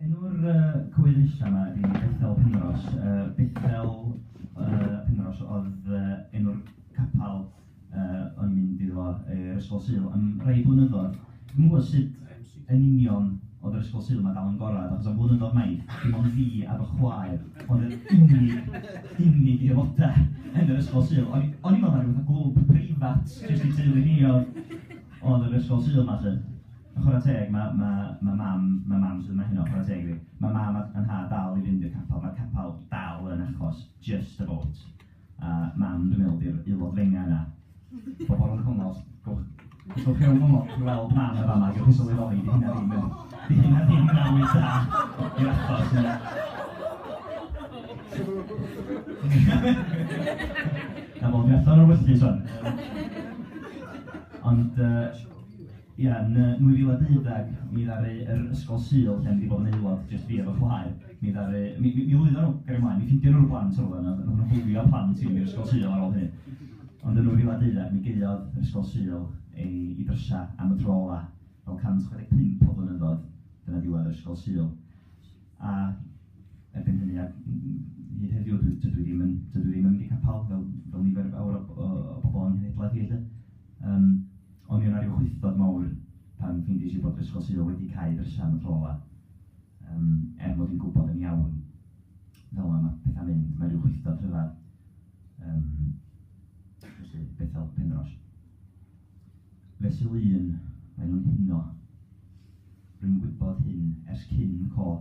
Enw'r yy cywydd nesa' 'ma ydi Bethel Penrhos. Yy Bethel yy Penrhos o'dd yy enw'r capal yy o'n i'n mynd iddo fo yy yr Ysgol Sul am rai blynyddoedd. Dwi'm yn gwbod sut yn union o'dd yr Ysgol Sul 'ma dal yn gorau, achos am flynyddoedd maith dim ond fi a fy chwaer o'dd yr unig unig aelodau yn yr Ysgol Sul. O'n i o'n i'n meddwl mai ryw fath o glwb preifat jyst i teulu ni o'dd Ond yr ysgol Sul 'ma 'lly. A chwarae teg, ma' ma' ma' mam ma' mam sydd yma heno, chwarae teg iddi. Ma' mam a a nhad dal i fynd i'r capel, ma'r capel dal yn achos, just about. A mam dwi'n meddwl 'di'r aelod ddengau yna. Pobol rhwng congos, gowch gowch chi rownd congos, gewch chi weld mam yn fama, gewch chi sylweddoli 'di hynna ddim yn 'di hynna ddim yn arwydd da i'r achos ynde? Cafodd Bethan o'r wylltys wan! Ond yy ia, yn 2012 mi ddaru yr Ysgol Sul lle o'n i 'di bod yn aelod, jyst fi efo chwaer, mi ddaru... mi mi lwyddan nhw, gario mlaen, mi ffindion nhw'r plant o'r rwla 'na, oedden nhw'n bwlio plant i'r Ysgol Sul ar ôl hynny. Ond yn 2012 mi gaeodd yr Ysgol Sul ei ei drysau am y tro ola', fel 165 o flynyddoedd, dyna ddiwedd yr Ysgol Sul. A erbyn hynny, a hyd heddiw, dwi dwi dwi ddim yn dydw i ddim yn mynd i capel fel fel nifer fawr o o o bobl o'n nghenhedlaeth i 'lly. Yym ond mi o' 'na ryw chwystod mawr pan ffeindies i bod yr Ysgol Sul wedi cau drysa am y tro ola. Yym er mod i'n gwbod yn iawn fel ma' ma' petha'n mynd, ma' ryw chwystod rhyfadd yym felly, Bethel, Penrhos. Fesul un, mae nhw'n huno. Rwy'n gwybod hyn ers cyn co.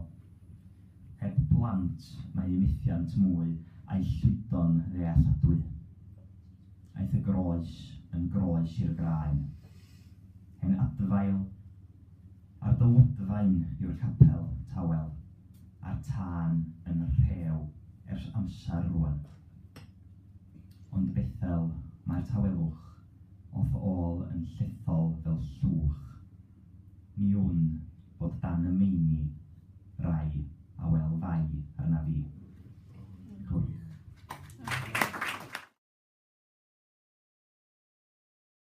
Heb blant, mae eu methiant mwy a'u llwydo'n ddealladwy. Aeth y groes yn groes i'r graen. Hen adfail ar dy wddfaen yw'r capel, tawel, a'r tân yn rhew ers amser rwan. Ond Bethel, mae'r tawelwch. o fy ôl yn llithol fel llwch. Ni wn fod dan y meini rai a wel fai arna fi. Gwych.